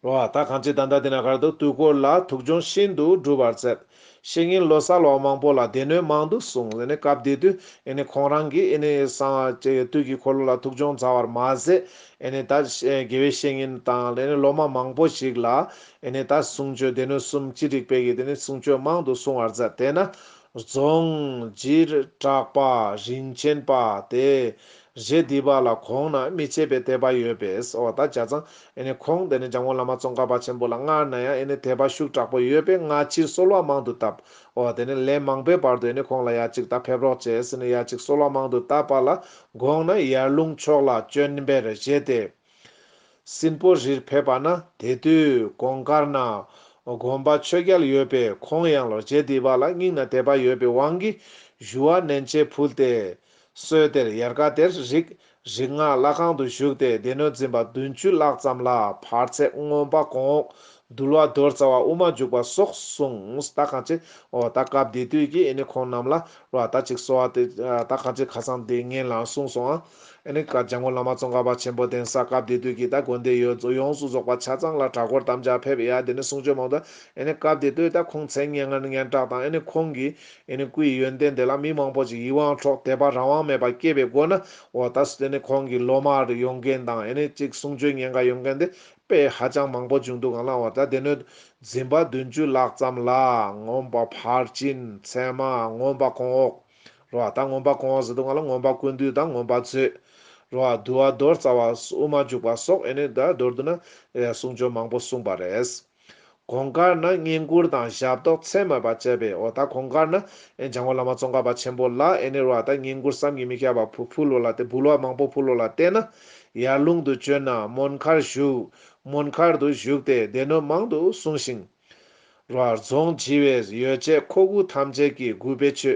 ལོ་བ་དག་གང་ཅི་ད་ལྟ་དེ་ན་གར་དུ་དུས་འཁོར་ལ་ཐུགས་འབྱུང་ཤིན་ཏུ་གྲུབ་པར་མཛད། ཤེས་ཡིན་ལོ་གསར་ལོ་མང་པོ་ལ་སྡེ་སྣོད་མང་དུ་གསུངས། སྐབས་དེ་དུས་ཁོང་རང་གིས་སང་བཅས་དུས་ཀྱི་འཁོར་ལོ་ལ་ཐུགས་འབྱུང་མཛད་བར་མ་ཟད། ད་དགེ་བའི་བཤེས་གཉེན་དང་སློབ་མ་མང་པོ་ཞིག་ལ་ད་གསུང་ཆོས་སྡེ་སྣོད་གསུམ་སྤྱི་སྒྲིག་སྤེལ་གྱིས་གསུང་ཆོས་མང་དུ་གསུང་བར་མཛད། དེས་ན་རྫོང། སྦྱིར་བྲག་པ་རིན་ཆེན་པ་དེས་རྗེ་འདི་པ་ལ་གོང་ན་རྨིས་བྱེད་པའི་དད་པ་ཡོད་པས་འོ་ད་བྱ་ཙང་ཁོང་དེ་ནས་འཇམ་དབང་བླ་མ་ཙོང་ཁ་པ་ཆེན་པོ་ལ་སྔར་ན་ཡང་དད་པ་ཤུགས་དྲག་པོ་ཡོད་པས་སྔ་ཕྱིར་གསོལ་བ་མང་དུ་བཏབ་འོ་དེ་ནས་ལན་མང་པོའི་བར་དུ་ཁོང་ལ་ཡར་ཅིག་ད་ཕེབས་རོགས་བྱས་ཟེར་ནས་ཡར་ཅིག་གསོལ་བ་མང་དུ་བཏབ་པ་ལ་དགོངས་ན་ཡར་ལུང་ཕྱོགས་ལ་བྱོན་པས་རྗེ་དེས། སྲིན་པོ་རིར་ཕེབས་པ་ན་དེ་དུས་གོང་དཀར་ནག་དགོན་པ་ཆོས་རྒྱལ་ཡོད་པས་ཁོང་ཡང་ལོ་བརྒྱད་འདས་པ་ལ་སྙིང་ན་དད་པ་ཡོད་པའི་དབང་གིས་ཞུ་བ་མནན་བཅས་ཕུལ་ཏེ། སྲོད་དེར་ཡལ་ག་དེར་རིག་རིག་སྔགས་བླ་ཁང་དུ་བཞུགས་ཏེ་སྡེ་སྣོད་འཛིན་པ་བདུན་བཅུ་ལྷག་ཙམ་ལ་བར་ཚད་སྔོན་པ་གོང་འོག་འདུལ་བ་རྡོར་རྩ་བ་དབུ་མ་འཇུག་པ་སོགས་གསུངས་ད་གང་ཅི་འོ་ད་སྐབས་དེ་དུས་ཀྱི་ཨེ་ནི་ཁོང་རྣམས་ལ་རོ་ད་ཅིག་གསོལ་བ་དེ་ད་གང་ཅི་ཁ་སང་དེ་ངན་ལང་གསུངས་སོང་ཨ། ཨེ་ནི་ཀ་ལྗང་མོ་བླ་མ་ཙོང་ཁ་པ་ཆེན་པོ་གདན་ས་སྐབས་དེ་དུས་ཀྱི་ད་དགོན་སྡེ་ཡོད་རྫོགས་ཡོངས་སུ་རྫོགས་པ་ཆ་ཚང་ལ་གྲྭ་སྐོར་དམ་བཅའ་ཕེབས་ཡ་དེ་ནི་གསུང་ཆོས་མང་དུ་ཨེ་ནི་སྐབས་དེ་དུས་ད་ཁོང་མཚན་སྙན་ངར་སྙན་གྲགས་དང་ཨེ་ནི་ཁོང་གི་ཨེ་ནི་སྐུའི་ཡོན་ཏན་དེ་ལ་མི་མང་པོ་ཞིག་ཡིད་དབང་འཕྲོག་དད་པ་རང་དབང་མེད་པ་སྐྱེས་པའི་སྒོ་ན་འོ་ད་སུ་དེ་ནི་ཁོང་གི་སློབ་མར་ཡོང་མཁན་དང་ཨེ་ནི་གཅིག་གསུང་ཆོས་སྙན་གར་ཡོང་མཁན་དེ་དཔེ་ཧ་ཅང་མང་པོ་བྱུང་འདུག་གང་ལ་འོ་ད་སྡེ་སྣོད་འཛིན་པ་བདུན་ཅུ་ལྷག་ཙམ་ལ་ངོམས་པ་ཕར་ཕྱིན་ཚད་མ་ངོམས་པ་གོང་འོག། རོ་བ་དང་ངོམས་པ་གོང་འོག་ཟེར་དུ་ང་ལ་ངོམས་པ་ཀུན་འདུས་དང་ངོམས་པ་རྩོད། རོ་བ་དུ་བ་རྡོར་རྩ་བ་དབུ་མ་འཇུག་པ་སོགས་ཨེ་ནི་དང་མདོར་བསྡུ་ན། གསུང་ཆོས་མང་པོ་གསུངས་པ་རེད། གོང་དཀར་ན་བསྙེན་བཀུར་དང་ཞབས་ཏོག་ཚད་མེད་པ་བཅས་པའི་འོག་ད་གོང་དཀར་ན་འཇང་བོ་བླ་མ་ཙོང་ཁ་པ་ཆེན་པོ་ལ་ཨེ་ནི་རོ་བ་དང་བསྙེན་བཀུར་བསམ་གྱིས་མི་ཁྱབ་པ་ཕུལ་བུ་ལོ་ལ་སྟེ་འབུལ་བ་མང་པོ་ཕུལ་ལོ་ལ་བརྟེན་ན། ཡར་ལུང་དུ་བྱོན་ན་མོན་མཁར་བཞུགས། མོན་མཁར་དུ་བཞུགས་ཏེ་སྡེ་སྣོད་མང་དུ་གསུངས་ཤིང། རོ་ཨར་རྫོང་སྤྱི་བའི་ཡོ་བྱད་མཁོ་དགུ་ཐམས་ཅད་ཀྱི་རྒུད་པའི་ཆུ།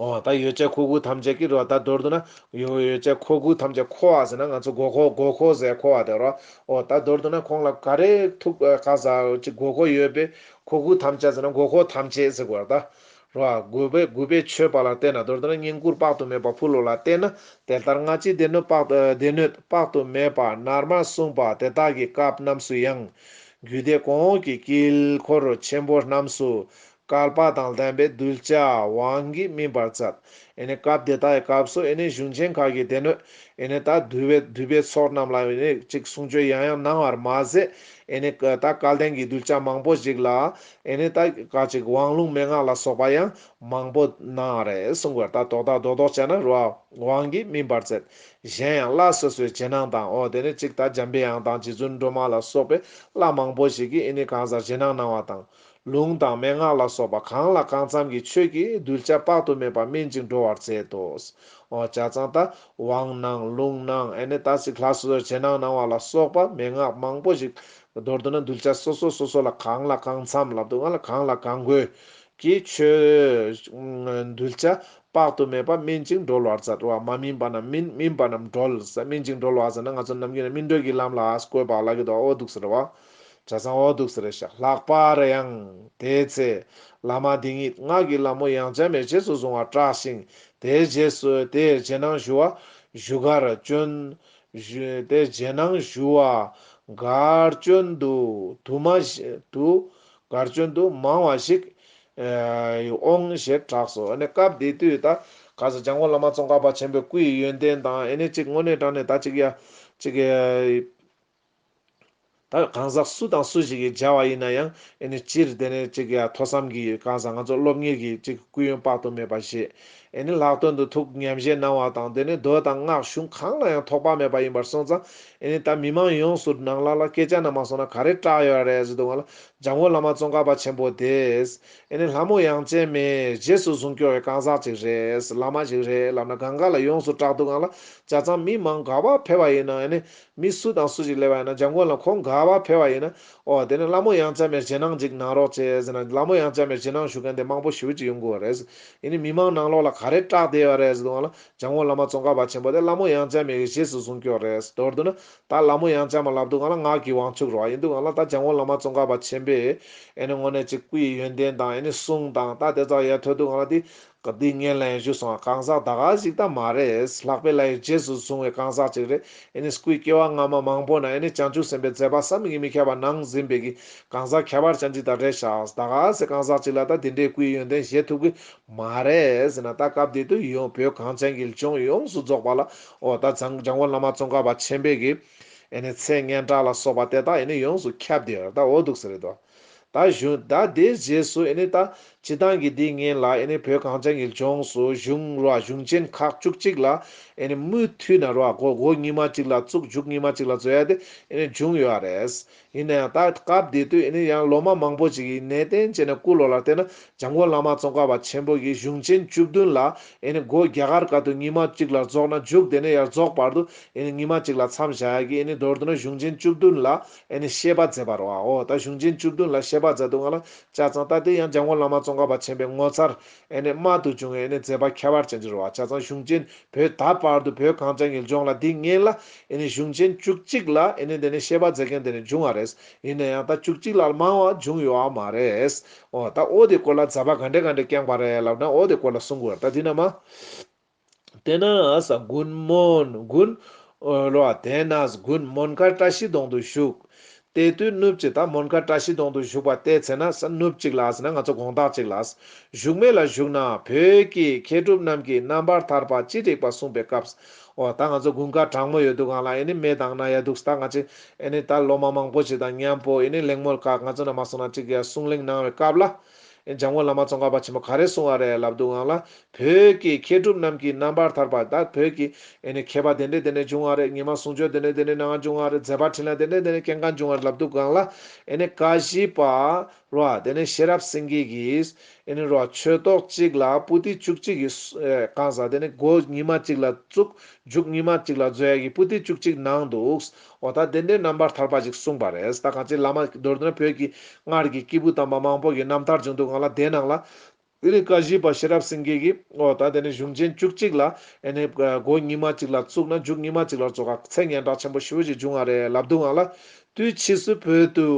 འོ་ད་ཡོ་བྱད་མཁོ་དགུ་ཐམས་ཅད་ཀྱི་རོ་ད་མདོར་བསྡུ་ན། ཡོ་བྱད་མཁོ་དགུ་ཐམས་ཅད་མཁོ་བ་ཟེར་ན་ང་ཚོ་མགོ་མཁོ་མགོ་མཁོ་ཟས་མཁོ་བ་དེ་རོ། འོ་ད་མདོར་བསྡུ་ན་ཁོང་ལ་ག་རེ་ཐུག་ག་ཟ་ཅི་མགོ་མཁོ་ཡོད་པས་མཁོ་དགུ་ཐམས་ཅད་ཟེར་ན་མགོ་མཁོ་ཐམས་ཅད་ཟེར་དགོས་པར་གདའ། རེད་བ། རྒུད་པའི་རྒུད་པའི་ཆོས་དཔག་ལ་བལྟས་ན་དོར་ཏེ་ན་བསྙེན་བཀུར་དཔག་ཏུ་མེད་པ་ཕུལ་ལོ་ལ་བལྟས་ན་དེ་ལྟར་སྔ་ཕྱིའི་སྡེ་སྣོད་དཔག་སྡེ་སྣོད་དཔག་ཏུ་མེད་པ་ནར་མ་གསུངས་པ་དེ་དག་གི་སྐབས་རྣམས་སུ་ཡང། རྒྱུད་སྡེ་གོང་འོག་གི་དཀྱིལ་འཁོར་ཆེན་པོ་རྣམས་སུ། བསྐལ་པ་དང་ལྡན་པའི་གདུལ་བྱ་དབང་གིས་སྨིན་པར་མཛད། ཨེ་ནི་སྐབས་དེ་དག་གི་སྐབས་སུ་ཨེ་ནི་གཞུང་ཆེན་ཁག་གི་སྡེ་སྣོད་ཨེ་ནི་དག་འདུས་པའི་འདུས་པའི་ཚོགས་རྣམས་ལ་ཨེ་ནི་ཅིག་གསུང་ཆོས་ཡང་ཡང་གནང་བར་མ་ཟད་ཨེ་ནི་དག་སྐལ་ལྡན་གྱི་གདུལ་བྱ་མང་པོ་ཞིག་ལ་ཨེ་ནས་ད་ག་ཅིག་དབང་ལུང་མན་ངག་ལ་སོགས་པ་ཡང་མང་པོ་སྣང་རེ་གསུང་བར་ད་དོག་ད་དོག་དོག་བྱས་ན་རུ་བ་དབང་གིས་སྨིན་པར་མཛད། གཞན་ཡང་བླ་སོ་སོའི་རྗེས་གནང་དང་འོ་དེ་ནས་ཅིག་ད་འཇམ་པའི་དབྱངས་དང་རྗེ་བཙུན་སྒྲོལ་མ་ལ་སོགས་པའི་བླ་མང་པོ་ཞིག་གིས་ཨེ་ནས་གང་ཟག་རྗེས་གནང་གནང་བ་དང། ལུང་དང་མན་ངག་ལ་སོགས་པ་གང་ལ་གང་འཚམ་གྱི་ཆོས་ཀྱིས་གདུལ་བྱ་དཔག་ཏུ་མེད་པ་སྨིན་ཅིང་འགྲོ་བར་མཛད་དོ། འོ་བྱ་ཙང་ད་དབང་གནང་ལུང་གནང་ཨེ་ནས་ད་ཅིག་ལྷ་སོ་སོའི་རྗེས་གནང་གནང་བ་ལ་སོགས་པ་མན་ངག་མང་པོ་ཞིག་མདོར་བསྡུ་ན་གདུལ་བྱ་སོ་སོ་སོ་སོ་ལ་གང་ལ་གང་འཚམས་ལ་སྡུག་བསྔལ་ལ་གང་ལ་གང་དགོས་ཀྱི་ཆོས། གདུལ་བྱ་དཔག་ཏུ་མེད་པ་སྨིན་ཅིང་སྒྲོལ་བར་བྱ་བ་མ་སྨིན་པ་རྣམས་སྨིན་སྨིན་པ་རྣམས་སྒྲོལ། སྨིན་ཅིང་སྒྲོལ་བ་ཟེར་ན་ང་ཚོ་ནམ་རྒྱུན་ནས་སྨིན་གྲོལ་གྱི་ལམ་ལ་བཀོད་པ་ལ་གི་དོག་འོ་འདུག་ཟེར་བ། བྱ་ཚང་འོ་འདུག་ཟེར་ཞག་ལྷག་པར་ཡང། དེའི་ཚེ། བླ་མ་འདི་ཉིད་སྔགས་ཀྱི་ལམ་མོ་ཡང་བྱ་མེད་རྗེས་སུ་བཟུང་བར་སྐྲགས་ཤིང། དེའི་རྗེས་སུ་དེས་རྗེས་གནང་ཞུ་བ། བཞུགས་སྒར་བྱོན། བཞོན་ཏེ་རྗེས་གནང་ཞུ་བ། སྒར་བྱོན་དུ་དུ་མ་ཞིག་དུ། སྒར་བྱོན་དུ་མང་བ་ཞིག། འོང་ཞེས་གྲགས་སོ། སྐབས་དེ་དུས་ད་ག་ས་ལྗང་ཁུ་བླ་མ་ཙོང་ཁ་པ་ཆེན་པོའི་སྐུའི་ཡོན་ཏན་དང་ཨེ་ནས་གཅིག་དངོས་གནས་དྲངས་ནས་ད་གཅིག་ཡ་གཅིག། ད་གང་ཟག་སུ་དང་སུ་ཞིག་གིས་སྦྱར་བ་ཡིན་ན་ཡང་ཨེ་ནི་སྤྱིར་དེ་ནི་གཅིག་ཡ་ཐོས་བསམ་གྱིས་གང་ཟག་ང་ཚོ་སློབ་གཉེར་གྱིས་གཅིག་སྐུ་ཡོན་དཔག་ཏུ་མེད་པ་བཞེས་ཨེ་ནི་ལྷག་དོན་དུ་ཐུགས་ཉམས་བཞེས་གནང་བ་དང་དེ་ནི་མདོ་དང་སྔགས་གཞུང་གང་ལ་ཡང་ཐོགས་པ་མེད་པ་ཡིན་པར་སོང་ཙང་ཨེ་ནི་ད་མི་མང་ཡོངས་སུ་ནང་ལ་ལ་སྐད་ཆ་ནང་མ་སོང་ན་ག་རེ་སྐྲག་ཡོད་ར་རེད་ཟེར་འདུག་ང་ལ་འཇམ་མགོན་བླ་མ་ཙོང་ཁ་པ་ཆེན་པོ་དེས་ཨེ་ནི་ལྷ་མོ་ཡང་ཅན་མས་རྗེས་སུ་བཟུང་སྐྱོང་བའི་གང་ཟག་ཅིག་རེད་བླ་མ་ཞིག་རེད་ལབ་ན་གང་ག་ལ་ཡོངས་སུ་སྐྲག་འདུག་ང་ལ་བྱ་ཙང་མི་མང་དགའ་བ་འཕེལ་བ་ཡིན་ན་ཨེ་ནི་མི་སུ་དང་སུ་ཞིག་གླེ་བ་ཡིན་ན་འཇམ་མགོན་ལ་ཁོང་དགའ་བ་འཕེལ་བ་ཡིན་ན། ཨོ་དེ་ནི་བླ་མོ་ཡང་ཅཱ་མེར་ཇེ་ནང་ཅིག་གནང་རོགས་བྱས་ཟེར་ན་བླ་མོ་ཡང་ཅཱ་མེར་ཇེ་ནང་ཞུ་མཁན་དེ་མང་པོ་ཞིབ་ཀྱི་ཡོང་དགོས་བ་རེད། ཡིན་ནི་མི་མང་ནང་ལོགས་ལ་ག་རེ་སྐྲག་བསྡད་བ་རེད་ཟེར་དུང་ལ་འཇམ་མགོན་བླ་མ་ཙོང་ཁ་བ་ཆེན་པོ་དེ་བླ་མོ་ཡང་ཅཱ་མེར་གྱི་གཞེས་སུ་བཟུང་སྐྱོར་རེད་མདོར་བསྡུ་ན། ད་བླ་མོ་ཡང་ཅཱ་མ་ལབ་འདུག་གང་ལ་ངག་གི་དབང་ཕྱུག་རོགས་ཨ་ཡིན་འདུག་གང་ལ་ད་འཇམ་མགོན་བླ་མ་ཙོང་ཁ་བ་ཆེན་པོས། ཨེ་ནི་དངོས་གནས་ཅིག་སྐུ་ཡི་ཡོན་ཏན་དང་ཨེ་ནི་གསུང་དང་ད་དེ་ཙག་ཡལ་ཐོས་འདུག་གང་ལ་དེ། ག་དུས་ངའི་ལན་ཞུ་སོང་ཨ་གང་ཟག་ད་ག་ཞིག་ད་མ་རེད་ལྷག་པའི་ལ་ཡི་རྗེས་སུ་བཟུང་བའི་གང་ཟག་ཅིག་རེད་ཨེ་ནི་སྐུའི་སྐྱེ་བ་སྔ་མ་མང་པོ་ན་ཨེ་ནི་བྱང་ཆུབ་སེམས་པའི་མཛད་པ་བསམ་གྱིས་མི་ཁྱབ་པ་ནང་ཟིན་པའི་གི་གང་ཟག་ཁྱད་པར་ཅན་ཅིག་ད་རེད་ཤག་ད་ག་ཟེ་གང་ཟག་ཅིག་ལ་ད་དེ་འདྲའི་སྐུའི་ཡོན་ཏན་བཞེས་ཐུབ་གི་མ་རེད་ཟེ་ན་ད་སྐབས་འདི་དུས་ཡོང་བོད་གངས་ཅན་གྱི་ལྗོངས་ཡོངས་སུ་རྫོགས་པ་ལ་ཨོ་ད་ཛྱང་བོ་བླ་མ་ཙོང་ཁ་པ་ཆེན་པོའི་གི་ཨེ་ནི་མཚན་སྙན་གྲགས་ལ་སོགས་པ་དེ་དག་ཨེ་ནི་ཡོངས་སུ་ཁྱབ་དེར་ད་འོ་འདུག་ཟེ་རེད་དོ། ད་གཞོན་ད་དེའི་རྗེས་སུ་ཨེ་ནི་ད་སྤྱི་དང་གི་དེའི་ངན་ལ་ཨེ་ནི་བོད་གངས་ཅན་གི་ལྗོངས་སུ་གཞུང་རོ་གཞུང་ཆེན་ཁག་བཅུ་གཅིག་ལ་ཨེ་ནི་མུ་མཐུད་ན་རོ་གོ་གོ་གཉིས་མ་གཅིག་ལ་བཙུགས་འཇུག་གཉིས་མ་གཅིག་ལ་བཟོ་ཡ་དེ་ཨེ་ནི་འབྱུང་ཡོད་རེད། ཡིན་ན་ཡང་ད་སྐབས་དེ་དུས་ཨེ་ནི་ཡང་ལོ་མ་མང་པོ་ཅིག་གི་གནས་བརྟན་བྱས་ནས་སྐུ་ལོ་ལ་བལྟས་ན་འཇམ་མགོན་བླ་མ་ཙོང་ཁ་བ་ཆེན་པོ་གི་གཞུང་ཆེན་བཅུ་བདུན་ལ་ཨེ་ནི་སྒོ་རྒྱ་གར་ཀ་དུ་གཉིས་མ་གཅིག་ལ་རྫོགས་ན་འཇུག་དེ་ནས་ཡར་རྫོགས་བར་དུ་ཨེ་ནི་གཉིས་མ་གཅིག་ལ་མཚམས་བཞག་ཡ་གི་ཨེ་ནི་མདོར་བསྡུ་ན་གཞུང་ཆེན་བཅུ་བདུན་ལ་ཨེ་ནི་ཤེས་པ་མཛད་པར་བའོ། ད་གཞུང་ཆེན་བཅུ་བདུན་ལ་ཤེས་པ་མཛད་འདུག་ང་ལ་ལྕགས་ཚང་ལྟ་དེ་ཡང་འཇམ་མགོན་བླ་མ་ཙོང་ཁ་པ་ཆེན་པོའི་ངོ་མཚར། ཨེ་ནི་རྨད་དུ་བྱུང་བའི་ཨེ་ནི་མཛད་པ་ཁྱད་པར་ཅན་འབྱོར་བ་ལྕགས་ཚང་གཞུང་ཆེན་བོད་ད་བར་དུ་བོད་གངས་ཅན་གྱི་ལྗོངས་ལ་འདི་ངན་ལ་ཨེ་ནི་གཞུང་ཆེན་བཅུ་གཅིག་ལ་ཨེ་ནི་འདི་ནི་ཤེས་པ་མཛད་མཁན་དེ་ནི་འབྱུང་བ་རེད། ཡིན་ན་ཡང་ད་བཅུ་གཅིག་ལ་མང་བ་འབྱུང་ཡོད་བ་མ་རེད། འོ་ད་འོ་དེ་སྐོར་ལ་མཛད་པ་ག་འདྲས་ག་འདྲས་བསྐྱངས་པ་རེད་ལབ་ན་འོ་དེ་སྐོར་ལ་གསུང་དགོས་རེད་ད་དེ་ན་མ། དེ་ནས་ཨཱས་གུན་མོན་གུན། ལོ་བ་དེ་ནས་གུན་མོན་མཁའ་བཀྲ་ཤིས་གདོང་དུ་བཞུགས། དེ་དུས་སྣུབས་ཀྱི་ད་མོན་མཁའ་བཀྲ་ཤིས་གདོང་དུ་བཞུགས་པ་བལྟས་ཚེ་ན་ས་སྣུབས་ཅིག་ལ་ཟེར་ན་ང་ཚོ་དགོངས་དག་ཅིག་ལ། བཞུགས་མེད་ལ་བཞུགས་ན་བོད་ཀྱི་མཁས་གྲུབ་རྣམས་ཀྱིས་རྣམ་པར་ཐར་པ་ཅི་རིགས་པ་གསུངས་པའི་སྐབས། འོ་ད་ང་ཚོ་དགུན་ཁ་གྲང་མོ་ཡོད་འདུག་གང་ལ་ཨེ་ནི་མེ་དང་ན་ཡ་འདུག་ད་ང་ཅི་ཨེ་ནི་ད་ལོ་མ་མང་པོ་ཞིག་དང་མཉམ་པོ་ཨེ་ནི་གླེང་མོལ་ཁག་ང་ཚོ་ན་མ་སོང་ན་ཅིག་གིས་གསུང་གླེང་གནང་བའི་སྐབས་ལ། འཇམ་མགོན་བླ་མ་ཙོང་ཁ་པ་ཆེན་པོ་ག་རེ་གསུང་བ་རེད་ལབ་འདུག་ཨང་ལ་བོད་ཀྱི་མཁས་གྲུབ་རྣམས་ཀྱི་རྣམ་པར་ཐར་པ་དག་བོད་ཀྱི་མཁས་པ་དེ་འདྲས་དེ་འདྲས་འབྱུང་བ་རེད་ཉི་མ་གསུང་ཆོས་དེ་འདྲས་དེ་འདྲས་གནང་བ་འབྱུང་བ་རེད་མཛད་པ་འཕྲིན་ལས་དེ་འདྲས་དེ་འདྲས་སྐྱེ་འགག་འབྱུང་བ་རེད་ལབ་འདུག་ཨང་ལ། ཀ་བཞི་པ། རོ། དེ་ནས་ཤེས་རབ་སེང་གེ་གིས། རོ། ཆོས་རྟོགས་གཅིག་ལ་པུ་སྟི་བཅུ་གཅིག་གི། གང་ཟག་དེ་ནི་སྒོ་ཉི་མ་གཅིག་ལ་བཙུགས། མཇུག་ཉི་མ་གཅིག་ལ་བཟོད་ཡས་ཀྱི་པུ་སྟི་བཅུ་གཅིག་གནང་འདུག། འོ་ད་བདེན་དོན་རྣམ་པར་ཐར་པ་ཞིག་གསུངས་པ་རེད་ད་གང་ཅིའི་བླ་མ་མདོར་ན་བོད་ཀྱི་སྔར་གྱི་སྐྱེས་བུ་དམ་པ་མང་པོ་ཡི་རྣམ་ཐར་བྱུང་འདུག་ང་ལ་དེའི་ནང་ལ། དེ་ནས་བཀའ་བཞི་པ་ཤེས་རབ་སེང་གེ་གིས་འོ་ད་དེ་ནས་གཞུང་ཆེན་བཅུ་གཅིག་ལ་ཨེ་ནས་སྒོ་ཉིས་མ་གཅིག་ལ་བཙུགས་ན་འཇུག་ཉིས་མ་གཅིག་ལ་རྫོགས་ག་ཚད་སྙན་གྲགས་ཆེན་པོ་ཞི་བོ་ཞིག་འབྱུང་བ་རེད་ལབ་འདུག་ང་ལ། དུས་ཕྱིས་སུ་བོད་དུ།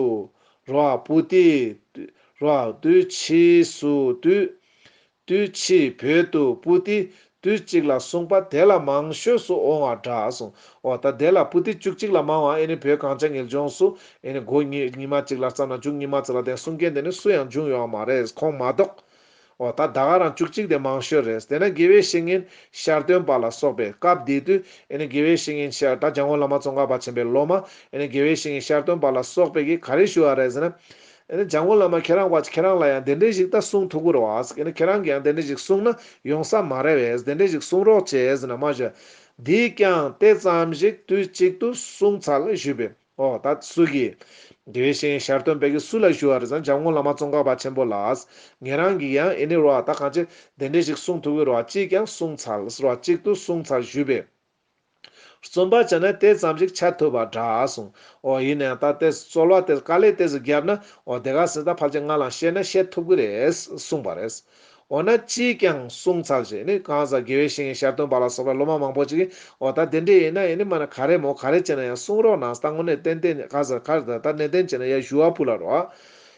རོ། པུ་ཏི། རོ། དུས་ཕྱིས་སུ་དུས། དུས་ཕྱིས་བོད་དུ་པུ་ཏི་དུས་གཅིག་ལ་གསུངས་པ་དེ་ལ་མང་ཤོས་སུ་འོང་བ་འདྲ་སོང་ཨོ་ད་དེ་ལ་པུ་ཏི་བཅུ་གཅིག་ལ་མང་བ་ཨེ་ནི་བོད་གངས་ཅན་ངེས་འབྱུང་སུ་ཨེ་ནི་དགོས་ཉིད་ཉི་མ་གཅིག་ལ་བརྩམས་ན་འཇུག་ཉི་མ་ཚེ་ལ་ལྡན་གསུང་མཁན་དེ་ནི་སུ་ཡང་འབྱུང་ཡོད་བ་མ་རེད་ཁོང་མ་གཏོགས། ཨོ་ད་ད་ག་རང་བཅུ་གཅིག་དེ་མང་ཤོས་རེད་དེ་ན་དགེ་བའི་བཤེས་གཉེན་ཤར་སྟོན་པ་ལ་སོགས་པས་སྐབས་དེ་དུས་ཨེ་ནི་དགེ་བའི་བཤེས་གཉེན་ཤར་ད་འཇང་བོ་བླ་མ་ཙོང་ཁ་པ་ཆེན་པའི་སློབ་མ་ཨེ་ནི་དགེ་བའི་བཤེས་གཉེན་ཤར་སྟོན་པ་ལ་སོགས་པས་ཀྱིས་ག་རེ་ཞུ་བ་རེད་ཟེར་ན། འཇང་དགུང་བླ་མ་ཁྱེད་རང་བཀའ་ཁྱེད་རང་ལ་ཡང་དེ་འདྲའི་ཞིག་ད་གསུང་ཐུགས་ཁུར་བ། ཁྱེད་རང་གིས་ཡང་དེ་འདྲའི་ཞིག་གསུང་ན་ཡོང་ས་མ་རེད་བས་དེ་འདྲའི་ཞིག་གསུང་རོགས་བྱས་ཟེར་ན་མ་ཞུ། འདིས་ཀྱང་དེ་ཙམ་ཞིག་དུས་གཅིག་ཏུ་གསུང་ཚར་ལ་ཞུས་པས། ཨོ་ད་སུ་གིས། དེ་བཞིན་ཞར་སྟོན་བེ་གི་སུ་ལ་ཞུ་བ་རེད་ཟེར་ན་འཇང་དགུང་བླ་མ་ཙོང་ཁ་པ་ཆེན་པོ་ལ། ངེད་རང་གིས་ཡང་ཨེ་ནི་རོགས་ད་གང་ཅི་དེ་འདྲའི་ཞིག་གསུང་ཐུགས་ཁུར་བ་གཅིག་ཀྱང་གསུང་ཚར་ཟེར་བ་གཅིག་ཏུ་གསུང་ཚར་ཞུས་པས། རྩོམ་པ་བྱས་ན་དེ་ཙམ་ཞིག་ཆ་ཐོས་པ་འདྲ་སོང། འོ་ཡིན་ནའང་ད་ལྟའི་རྩོལ་བ་དེ་དཀའ་ལས་དེ་ཚོ་བརྒྱབ་ན་འོ་དེ་ག་སྲིད་ད་ཕར་ཆེད་མངགས་ལ་བཤད་ན་བཤད་ཐུབ་ཀྱི་རེད་གསུངས་པ་རེད། འོ་ན་ཅིས་ཀྱང་གསུངས་ཚར་ཞེས་ནི་གང་ཟག་དགེ་བའི་བཤེས་གཉེན་ཞར་སྟོན་པ་ལ་སོགས་པའི་སློབ་མ་མང་པོ་ཅིག་གིས་འོ་ད་དེ་འདྲས་ཡིན་ན་ཡིན་ནི་མ་ན་ག་རེ་མོ་ག་རེ་བྱས་ན་ཡང་གསུངས་རོགས་གནང་ད་དངོས་གནས་ཏན་ཏན་ག་ཟེར་ག་རེ་ད་ད་ནན་ཏན་བྱས་ན་ཡ་ཞུ་བ་ཕུག་ལ་རོགས།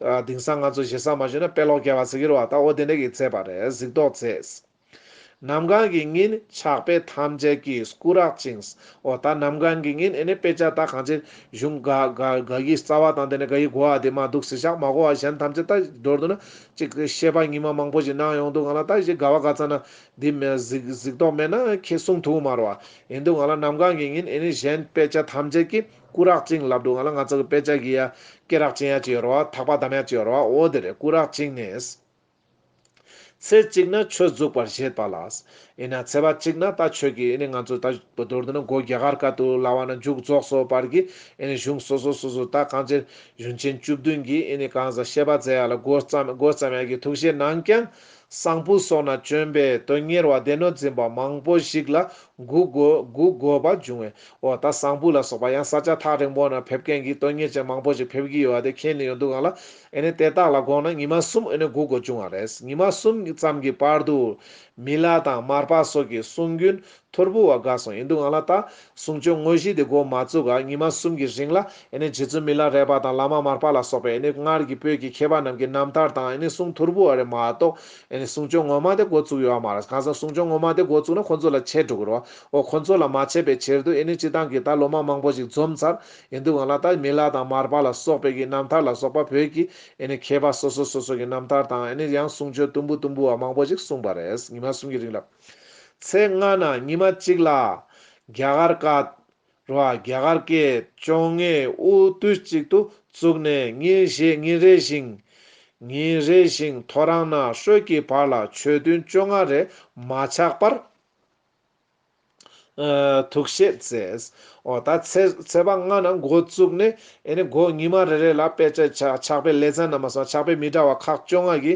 དེང་སང་ང་ཚོ་ཞེ་ས་མ་ཞུས་ན་དཔེ་ཀློག་སྐྱེལ་བ་ཟེར་གྱི་རོ་བ་ད་འོ་དེ་འདྲ་གིས་ཚད་པ་རེད་གཟིགས་རྟོག་མཛད། ནམ་གང་གི་ཉིན་ཕྱག་དཔེ་ཐམས་ཅད་ཀྱིས་སྐུ་རག་ཅིང། འོ་ད་ནམ་གང་གི་ཉིན་ཨེ་ནི་དཔེ་ཆ་ད་གང་ཅིར་གཞུང་དགའ་དགའ་དགའ་དགའི་རྩ་བ་དང་དེ་ནས་དགའ་ཡི་གོ་བ་དེ་མ་འདུག་ཟེར་ཞག་མ་གོ་བ་གཞན་ཐམས་ཅད་ད་འགྲོར་འདུག་ན་ཅིག་ཤེས་པ་ཉི་མ་མང་པོ་ཞིག་གནང་ཡོང་འདུག་ང་ལ་ད་གཞི་དགའ་བ་དགའ་ཚ་ན་འདི་མེད་གཟིགས་གཟིགས་རྟོག་མེད་ན་ཁྱེད་གསུང་ཐུགས་མ་རོ་བ་ཡིན་འདུག་ང་ལ་ནམ་གང་གི་ཉིན་ཨེ་ནི་གཞན་དཔེ་ཆ་ཐམས་ཅད་ཀྱིས། སྐུ་རགས་བཅིངས་ལབ་འདུག་ང་ལ་ང་ཚོ་གི་དཔེ་ཆ་གི་ཡ་སྐེ་རགས་བཅིངས་ཡ་ཅིག་ཡོད་རོ་བ་ཐག་པ་བསྡམས་ཡ་ཅིག་ཡོད་རོ་བ་འོ་དེ་རེད་སྐུ་རགས་བཅིངས་ནས། ཚེ་གཅིག་ན་ཆོས་རྫོགས་པར་བཞེད་པ་ལ། ཨེ་ན་ཚེ་བ་གཅིག་ན་ད་ཆོས་ཀྱི་ཨེ་ནི་ང་ཚོ་ད་བོ་དོར་འདུག་ན་སྒོ་རྒྱ་གར་ཀ་ཏུ་ལ་བ་ན་འཇུག་རྫོགས་སོ་བར་གྱི་ཨེ་ནི་གཞུང་སོ་སོ་སོ་སོ་ད་གང་ཅིར་གཞུང་ཆེན་བཅུ་བདུན་གྱི་ཨེ་ནི་གང་ཟག་ཤེས་པ་ཛེ་ཡ་ལ་སྒོ་བརྩམས་ཡ་ཀྱི་ཐུགས་བཞེད་གནང་ཀྱང། གསང་ཕུ་སོགས་ན་བྱོན་པའི་དོན་གཉེར་བ་སྡེ་སྣོད་འཛིན་པ་མང་པོ་ཞིག་ལ་སྒུག་དགོས་པ་འབྱུང་བས་འོ་ད་གསང་ཕུ་ལ་སོགས་པ་ཡང་ས་ཆ་ཐག་རིང་པོ་ན་ཕེབས་མཁན་གྱི་དོན་གཉེར་ཅན་མང་པོ་ཞིག་ཕེབས་ཀྱི་ཡོད་བ་དེ་མཁྱེན་ནས་ཡོད་འདུག་ག་ལ་ཨེ་ནས་དེ་དག་ལ་དགོངས་ན་ཉི་མ་གསུམ་ཨེ་ནས་སྒུག་དགོས་འབྱུང་བ་རེད་ཉི་མ་གསུམ་ཙམ་གྱི་བར་དུ། མི་ལ་དང་མར་པ་སོགས་ཀྱི་གསུང་རྒྱུན་ཐོར་བུ་བ་དགའ་སོང་ཡིན་འདུག་ང་ལ་ལྟ། གཟུངས་ཆོས་དངོས་གཞི་དེ་སྒོ་མ་བཙུགས་ཀ་ཉི་མ་གསུམ་གྱི་རིང་ལ་ཨེ་ནི་རྗེ་བཙུན་མི་ལ་རས་པ་དང་བླ་མ་མར་པ་ལ་སོགས་པས་ཨེ་ནི་སྔར་གྱི་བོད་ཀྱི་མཁས་པ་རྣམས་ཀྱི་རྣམ་ཐར་དང་ཨེ་ནི་གཟུངས་ཐོར་བུ་བ་རེ་མ་གཏོགས་ཨེ་ནི་གཟུངས་ཆོས་ངོ་མ་དེ་སྒོ་བཙུགས་ཡོད་བ་མ་རེད་གང་ཟག་གཟུངས་ཆོས་ངོ་མ་དེ་སྒོ་བཙུགས་ན་ཁོང་ཚོ་ལ་ཆད་འགྲོ་གི་རོ་ཨོ་ཁོང་ཚོ་ལ་མ་ཆད་པའི་ཕྱིར་དུ་ཨེ་ནི་སྤྱི་བཏང་གིས་ད་ལོ་མ་མང་པོ་ཞིག་འཛོམས་ཚར་ཡིན་འདུག་ང་ལ་ལྟ་མི་ལ་དང་མར་པ་ལ་སོགས་པས་ཀྱི་རྣམ་ཐར་ལ་སོགས་པ་བོད་ཀྱི་ཨེ་ནི་མཁས་པ་སོ་སོ་སོ་སོ་གྱི་རྣམ་ཐར་དང་ཨེ་ནི་ཡང་གཟུངས་ཆོས་ཏུམ་བུ་ཏུམ་བུ་བ་མང་པོ་ཞིག་གསུངས་པ་རེད་ཉི་མ་གསུམ་གྱི་རིང་ལ། ཚེས་ལྔ་ན་ཉི་མ་གཅིག་ལ། རྒྱ་གར་ཀ། རུ་ཨ་རྒྱ་གར་ཀའི་བཅོ་ལྔའི་དབུ་དུས་གཅིག་ཏུ་བཙུགས་ནས་ཉིན་ཞེ་ཉིན་རེ་ཞིང། ཉིན་རེ་ཞིང་ཐོ་རངས་ན་ཧྲོལ་གྱི་བར་ལ་ཆོས་ཐུན་བཅོ་ལྔ་རེ་མ་ཆག་པར། ཐུགས་བཞེད་མཛད། འོ་ད་ཚེས་པ་ལྔ་ནང་འགོ་བཙུགས་ནས་དགོང་ཉི་མ་རེ་རེ་ལ་དཔེ་ཆ་ཆགས་པའི་ལེ་ཚན་རྣམས་སོང་ཆགས་པའི་མི་འདྲ་བ་ཁག་བཅོ་ལྔ་གི་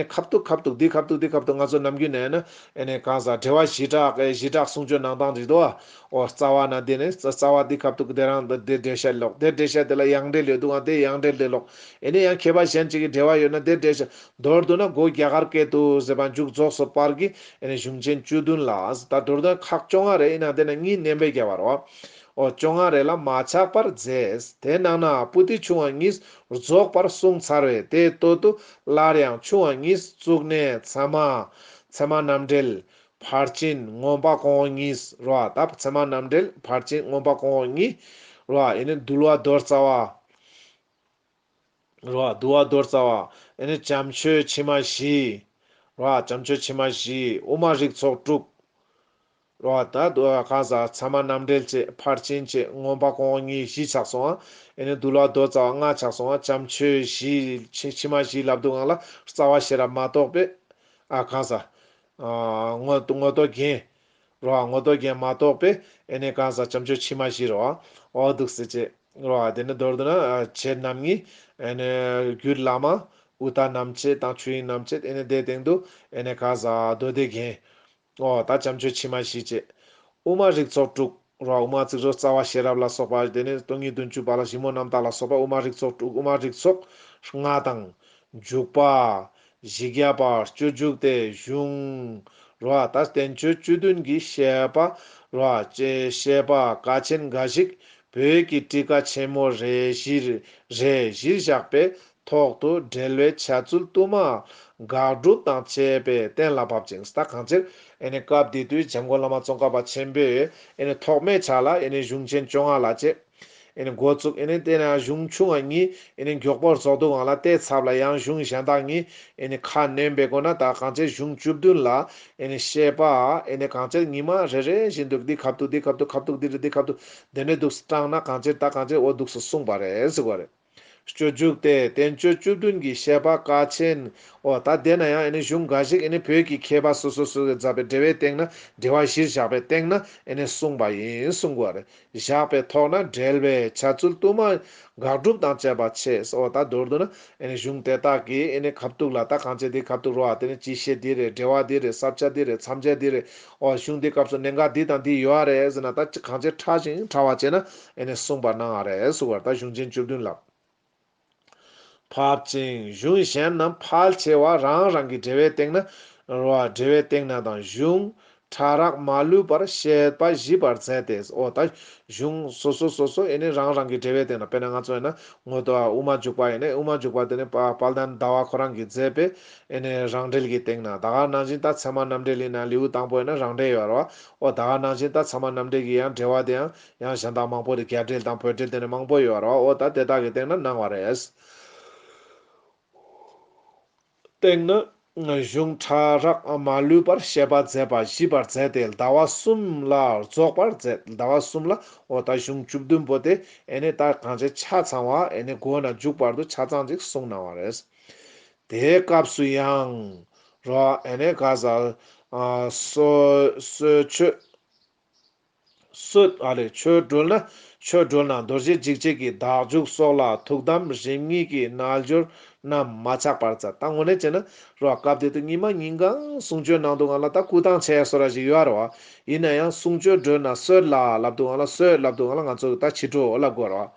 ཁབ་གཏུག་ཁབ་གཏུག་འདི་ཁབ་གཏུག་འདི་ཁབ་གཏུག་ང་ཚོ་ནམ་རྒྱུན་ནས་ནི་གང་ཟག་འབྲེལ་བ་གཞི་གྲགས་གཞི་གྲགས་གསུང་ཆོས་ནང་དང་རིག་དུ་བའོ་རྩ་བ་ན་འདི་ནི་རྩ་བ་འདི་ཁབ་གཏུག་འདི་རང་འདི་འདི་འབྲེལ་བཤད་ལོག་དེ་འབྲེལ་བཤད་དེ་ལ་ཡང་འབྲེལ་ཡོད་འདུག་ཨང་དེ་ཡང་འབྲེལ་འདི་ལོག་ཨེ་ནི་ཡང་མཁས་པ་གཞན་གཅིག་གི་འབྲེལ་བ་ཡོད་ན་དེ་འབྲེལ་བཤད་མདོར་བསྡུ་ན་སྒོ་རྒྱ་གར་སྐད་དུ་ཟེར་པ་མཇུག་རྫོགས་སུ་པར་གྱི་ཨེ་ནས་གཞུང་ཆེན་བཅུ་བདུན་ལ་ད་དུར་དོན་ཁག་བཅོ་ལྔ་རེ་ཨེ་ནང་དེ་ནས་གཉིས་བསྣན་པས་བརྒྱ་བར་རོ། ཨོ་བཅོ་ལྔ་རེ་ལ་མ་ཆགས་པར་རྫས་དེ་ནང་ན་པུ་ཏི་ཆུང་བ་གཉིས་རྫོགས་པར་གསུངས་ཚར་བས་དེའི་སྟོད་དུ་སླར་ཡང་ཆུང་བ་གཉིས་བཙུགས་ནས་ཚད་མ། ཚད་མ་རྣམ་འགྲེལ། ཕར་ཕྱིན་མངོན་པ་གོང་འོག་གཉིས་རོ། ད་ཚད་མ་རྣམ་འགྲེལ་ཕར་ཕྱིན་མངོན་པ་གོང་འོག་གཉིས་རོ། ཨེ་ནས་འདུལ་བ་རྡོར་རྩ་བ། རོ། དུ་བ་རྡོར་རྩ་བ། དེ་ནས་བྱམས་ཆོས་ཕྱི་མ་བཞི། རོ། བྱམས་ཆོས་ཕྱི་མ་བཞི། དབུ་མ་རིགས་ཚོགས་དྲུག། རོ། ད་དུ་བ་ཁ་ཟ་ཚ་མ་རྣམ་འགྲེལ་བཅས་ཕར་ཕྱིན་བཅས་ངོམ་པ་གོང་གཉིས་བཞི་ཆགས་སོང་བ། དེ་ནས་དུ་བླ་རྡོ་རྩ་བ་ལྔ་ཆགས་སོང་བ་བྱམས་ཆོས་བཞི་ཕྱི་མ་བཞི་བླ་བསྡུ་ངང་ལ་རྩ་བ་ཤེས་རབ་མ་གཏོགས་པའི། ཨ་ཁ་ཟ། ངོ། ངོ་རྟོག་རྒྱན། རོ་ཨ་ངོ་དོག་རྒྱན་མ་གཏོགས་པས་ཨེ་ནས་གང་ཟག་བྱམས་ཆོས་ཕྱི་མ་བཞི་རོ་ཨ་འོ་འདུག་ཟེར་ཅེས། རོ་ཨ་དེ་ནི་མདོར་བསྡུ་ན་བྱེད་རྣམ་ལྔའི། ཨེ་ནས་རྒྱུད་བླ་མ། ཨུཏྤ་རྣམ་བྱེད་དང་ཆོས་དབྱིངས་རྣམ་བྱེད་ཨེ་ནས་དེའི་སྟེང་དུ། ཨེ་ནས་གང་ཟག་མདོ་སྡེ་རྒྱན། ཨོ་ད་བྱམས་ཆོས་ཕྱི་མ་བཞི་བཅས། དབུ་མ་རིགས་ཚོགས་དྲུག། རོག་མ་ཚིག་རོ་རྩ་བ་ཤེས་རབ་ལ་སོགས་པ་དེ་ནས་སྟོང་ཉིད་བདུན་ཅུ་པ་ལ་ཞིབ་མོ་རྣམ་དག་ལ་སོགས་པ་དབུ་མ་རིགས་ཚོགས་དྲུག་དབུ་མ་རིགས་ཚོགས་ལྔ་དང། འཇུག་པ། བཞི་བརྒྱ་པ་སྤྱོད་འཇུག་སྟེ་གཞུང། རོ་ཨ་ཏར་བསྟན་བཅོས་བཅུ་བདུན་གྱི་བཤད་པ། རོ་ཨ་ཅེ་བཤད་པ་ཀ་ཆེན་འགའ་ཞིག་བོད་ཀྱི་བཀྲིས་ཀ་ཆེན་མོ་རེ་བཞི་རེ་བཞིར་བཞག་པའི་ཐོག་ཏུ་འབྲེལ་བའི་བྱ་ཚུལ་བསྟུད་མར་དགག་སྒྲུབ་དང་བཅས་པས་གཏན་ལ་དབབ་ཅིང་ཟླ་གང་ཕྱིར། སྐབས་དེ་དུས་བྱམས་མགོན་བླ་མ་ཙོང་ཁ་པ་ཆེན་པོས་ཐོགས་མེད་ཕྱག་ལ་གཞུང་ཆེན་བཅོ་ལྔ་ལ་བཅས། འགོ་བཙུགས། དེ་ནས་གཞུང་ཆུང་བ་གཉིས་མགྱོགས་པོར་རྫོགས་འདུག་ལ་དེའི་ཚབ་ལ་ཡང་གཞུང་གཞན་དག་གཉིས་ཁ་སྣོན་པའི་སྒོ་ན་ཟླ་གང་ཕྱིར་གཞུང་བཅུ་བདུན་ལ་བཤད་པ། གང་ཕྱིར་ཉི་མ་རེ་རེ་བཞིན་དུ་འདི་གབ་ཏུ་འདི་གབ་ཏུ་གབ་ཏུ་འདི་རེ་འདི་གབ་ཏུ་འདི་འདྲའི་དུག་སྤྲང་ན་གང་ཕྱིར་ཟླ་གང་ཕྱིར་འོ་དུགས་སུ་གསུངས་པ་རེད་གཟིགས་པ་རེད། སྤྱོད་རྒྱུགས་ཏེ་བསྟན་བཅོས་བཅུ་བདུན་གྱི་བཤད་པ་ཀ་ཆེན། འོ་ད་དེ་ན་ཡང་ཨེ་ནི་གཞུང་འགའ་ཞིག་ཨེ་ནི་བོད་ཀྱི་མཁས་པ་སོ་སོ་སོ་སོའི་མཛད་པའི་འགྲེལ་བའི་སྟེང་ན་འགྲེལ་བ་གཞིར་བཞག་པའི་སྟེང་ན་ཨེ་ནི་གསུངས་པ་ཡིན་གསུང་གོ། བཞག་པའི་ཐོག་ན་འགྲེལ་བའི་བྱ་ཚུལ་བསྟུད་མ། དགག་སྒྲུབ་དང་བཅས་པ་ཆེས་འོ་ད་མདོར་བསྡུ་ན་ཨེ་ནི་གཞུང་དེ་དག་གིས་ཨེ་ནི་གབ་གཏུགས་ལ་ད་གང་བྱེད་དེའི་གབ་གཏུགས་རོ་ཨ་དེ་ནི་སྤྱི་བཤད་འདི་རེད་འགྲེལ་བ་འདི་རེད་བསབ་བྱ་འདི་རེད་མཚམས་བྱ་འདི་རེད་ཨོ་གཞུང་འདིའི་སྐབས་སུ་གནད་འགག་འདི་དང་འདི་ཡོད་ཨ་རེད་ཟེར་ན་ད་ཅི་གང་ཆེ་ཕྲ་ཞིང་ཕྲ་བ་བྱས་ན་ཨེ་ནས་གསུངས་པར་སྣང་ཨ་རེད་སུ་བར་ད་གཞུང་ཆེན་བཅུ་བདུན་ལབ་ཕབ་ཅིང་གཞུང་གཞན་རྣམས་ཕལ་ཆེ་བ་རང་རང་གི་འགྲེལ་བའི་སྟེང་ན། རོ་ཨ་འགྲེལ་བའི་སྟེང་ན་དང་གཞུང། ཕྲ་རགས་མ་ལུས་པར་བཤད་པ་བཞི་པར་མཛད་དེ་ཨོ་ད་གཞུང་སོ་སོ་སོ་སོ་ཨེ་ནས་རང་རང་གི་འགྲེལ་བའི་སྟེང་ན་དཔེར་ན་ང་ཚོ་ཨེ་ན་ངོ་དོ་ཨ་དབུ་མ་འཇུག་པ་ཨེ་ནས་དབུ་མ་འཇུག་པ་དེ་ནི་དཔལ་ལྡན་ཟླ་བ་ཁོ་རང་གིས་མཛད་པའི་ཨེ་ནས་རང་འགྲེལ་གྱི་སྟེང་ན་ད་ག་ནང་བཞིན་ལྟ་ཚད་མ་རྣམ་འགྲེལ་ཡིན་ན་ལེའུ་དང་པོ་ཡིན་ན་རང་འགྲེལ་ཡོད་རོ། ཨོ་ད་ག་ནང་བཞིན་ལྟ་ཚད་མ་རྣམ་འགྲེལ་གྱི་ཡང་འགྲེལ་བ་དེ་ཡང་ཡང་གཞན་དག་མང་པོ་རེ་གར་འགྲེལ་དང་བོད་འགྲེལ་དེ་ནས་མང་པོ་ཡོད་རོ་ཨོ་ད་དེ་དག་གི་སྟེང་ན་སྣང་བ་རེད། སྟེང་ན། གཞུང་ཕྲ་རགས་མ་ལུས་པར་བཤད་པ་མཛད་པ་བཞི་པར་མཛད་དེ་ཟླ་བ་གསུམ་ལ་རྫོགས་པར་མཛད་ཟླ་བ་གསུམ་ལ་ཨོ་ད་གཞུང་བཅུ་བདུན་པོ་དེ་ཨེ་ནས་ལྟ་གང་བྱེད་ཆ་ཚང་བ་ཨེ་ནས་སྒོ་ན་འཇུག་བར་དུ་ཆ་ཚང་ཅིག་གསུངས་གནང་བ་རེད། དེའི་སྐབས་སུ་ཡང། རོ་ཨེ་ནའི་ག་ས་སོའི་ཆོས། སོད་ཨ་ལས་ཆོས་སྒྲོལ་ན་ཆོས་སྒྲོལ་ན་རྡོ་རྗེ་འཇིགས་བྱེད་ཀྱི་བདག་འཇུག་སོགས་ལ་ཐུགས་དམ་རིམ་གཉིས་ཀྱི་རྣལ་འབྱོར་རྣམས་མ་ཆག་པར་ཙཀ་ལྟ་ངོ་ནས་བྱེད་ན་རོ་ཨ་སྐབས་དེ་དུས་ཉི་མ་ཉིན་གང་གསུང་ཆོས་ནང་དུ་ང་ལ་ད་སྐུ་ཐང་ཆད་སོ་ར་ཞིག་ཡོད་རོ་ཨ། ཡིན་ན་ཡང་གསུང་ཆོས་སྒྲོལ་ན་སོད་ལ་ལབ་དུ་ང་ལ་སོད་ལབ་དུ་ང་ལ་ང་ཚོ་གི་ད་ཕྱི་དྲོ་ལ་དགོས་རོ་ཨ།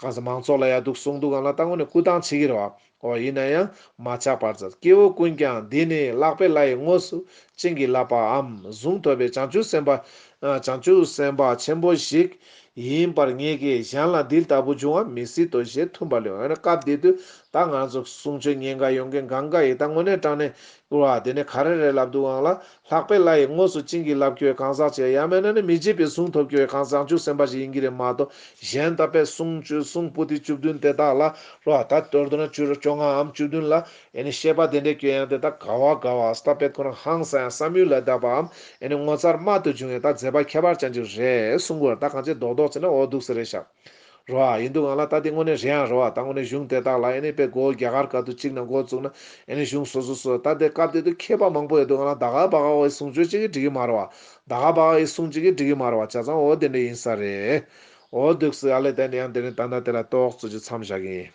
གང་ཟག་མང་ཚོགས་ལ་ཡག་སྡུག་གསུངས་འདུག་གང་ལ་ལྟ་ངོ་ནས་སྐུལ་སྟངས་བྱེད་ཀྱི་རོགས། ཨོ་ཡིན་ན་ཡང་མ་ཆགས་པར་ཛར་སྐྱེ་བོ་ཀུན་ཀྱང་འདི་ནི་བརླག་པའི་བླ་ཡི་དངོས་སུ་བྱིན་གྱིས་བརླབས་པའམ་གཟུངས་ཐོབ་པའི་བྱང་ཆུབ་སེམས་དཔའ། བྱང་ཆུབ་སེམས་དཔའ་ཆེན་པོ་ཞིག་ཡིན་པར་ངེས་ཀྱི་གཞན་ལ་འདི་ལྟ་བུ་འབྱུང་བ་མི་སྲིད་དོ་ཞེས་མཐུན་པར་ལོས་ཡོང་ཡང་སྐབས་འདི་དུས་ད་ང་ཚོ་གསུང་ཆོས་ཉན་དགའ་ཡོང་མཁན་གང་དགའ་ཡི་ད་དངོས་གནས་དྲང་གནས་བཀུར་བ་དེ་ནི་ག་རེ་རེད་ལབ་འདུག་ཨང་ལ་ལྷག་པའི་བླ་ཡི་ངོས་སུ་བྱིན་གྱིས་རླབས་ཁྱོད་གང་ཟག་ཅེས་ཡ་མེད་ན་ནི་མི་བརྗེད་པའི་གཟུངས་ཐོབ་ཁྱོད་གང་ཟག་འཇུག་སེམས་པ་ཞིག་ཡིན་གྱི་རེད་མ་གཏོགས་གཞན་ད་པའི་གསུང་བཅུ་གསུང་སྤུ་ཏི་བཅུ་བདུན་དེ་དག་ལ་རོ་ད་སྟོད་དུ་ན་བཅུ་རེ་བཅོ་ལྔ་འམ་བཅུ་བདུན་ལ་ཨེ་ནི་བཤད་པ་དེ་འདྲས་ཁྱོད་ཡང་དེ་དག་ག་བ་ག་བ་ཨཱས་ད་པའི་ཁོ་རང་ཧང་ས་ཡང་བསམ་ཡུལ་ལས་འདའ་བའམ་ཨེ་ནི་ངོ་མཚར་རྨད་དུ་བྱུང་བའི་ད་མཛད་པ་ཁྱད་པར་ཅན་ཅིག་རེད་གསུང་གོ་ད་གང་ཅི་མདོག་མདོག་ཅིག་ན་འོ་འདུག་ཟེར་རེད་ཤག། རོ་ཨ་ཡིན་འདུག་ང་ལ་ལྟ་དེ་དངོས་གནས་རེད་ཨང་རོ་ཨ་ད་དངོས་གནས་གཞུང་དེ་དག་ལ་ཨེ་ནས་དཔེ་འགོ་རྒྱ་གར་ག་དུ་གཅིག་ན་འགོ་བཙུགས་ན་ཨེ་ནས་གཞུང་སོ་སོ་སོ་ད་དེ་སྐབས་དེ་དུས་མཁས་པ་མང་པོ་ཡོད་འདུག་ང་ལ་ད་ག་བ་ག་བའི་གསུང་ཆོས་གཅིག་གིས་འགྲིག་གི་མ་རོ་ཨ་ད་ག་བ་ག་ཡི་གསུང་གཅིག་གིས་འགྲིག་གི་མ་རོ་ཨ་བྱ་ཙང་འོ་དེ་འདྲ་ཡིན་ས་རེད་འོ་འདུག་སི་ཨ་ལས་དད་ནས་ཡང་དེ་རིང་ད་ནང་དེ་ལ་རྟོགས་བརྩོད་ཅིག་མཚམས་བཞག་གི་ཡིན།